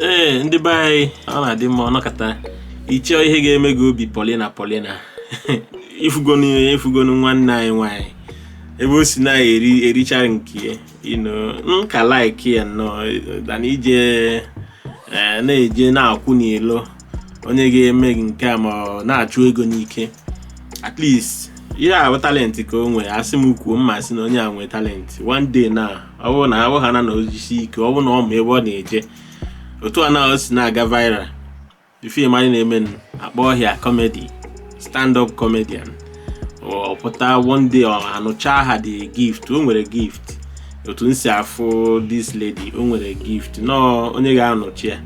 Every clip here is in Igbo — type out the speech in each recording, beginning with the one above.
ee ndị be anyị ọ na-adị mma ọ nọkata ị chọọ ihe ga-eme gị obi polina polina ifugonu ifugonu nwanne anyị nwaanyị ebe o si na-eri erichara nke ya you know m ka like ya nnọọ than ịje eh, na-eje na-akwụ n'ilo onye ga-eme gị nke a ma ọ na-achụ ego n'ike at least ihe a bụ talent ka o nwee asị m kwuo m ma-asị na onye a nwee talent one day na ọ bụrụ na ahụ ha na na o jisie ike ọ bụrụ na ọ ma ebe ọ na-eje otu a na o si na-aga viral film anyị na-eme a kpọọ ya comedy stand up comedian ọ pụta one day a nurture the gift o nwere gift otu m si afụ this lady o nwere gift nnọọ onye ga-nurture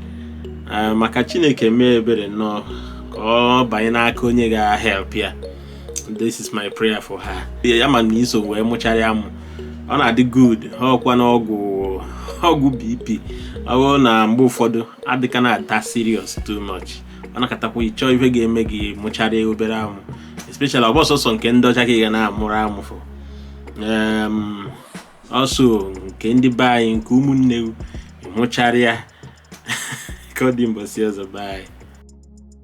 ya maka chineke mee ebere nnọọ ka ọ banye n'aka onye ga-help ya this is my prayer for her ya mana i so wee mụchara amụ ọ na-adị good ha ọkwa na ọgwụ ọgwụ bp ọ bụrụ na mgbe ụfọdụ adịka na-ata serious too much ọ nọkatakwa ị chọọ ihe ga-eme gị mụchara obere amụ especially ọ bụ sọsọ nke ndị ọcha ka ị ga na-amụrụ amụ fọ ọsọ nke ndị be anyị nke ụmụnne mụchara ya ka ọ dị mbọsị ọzọ bye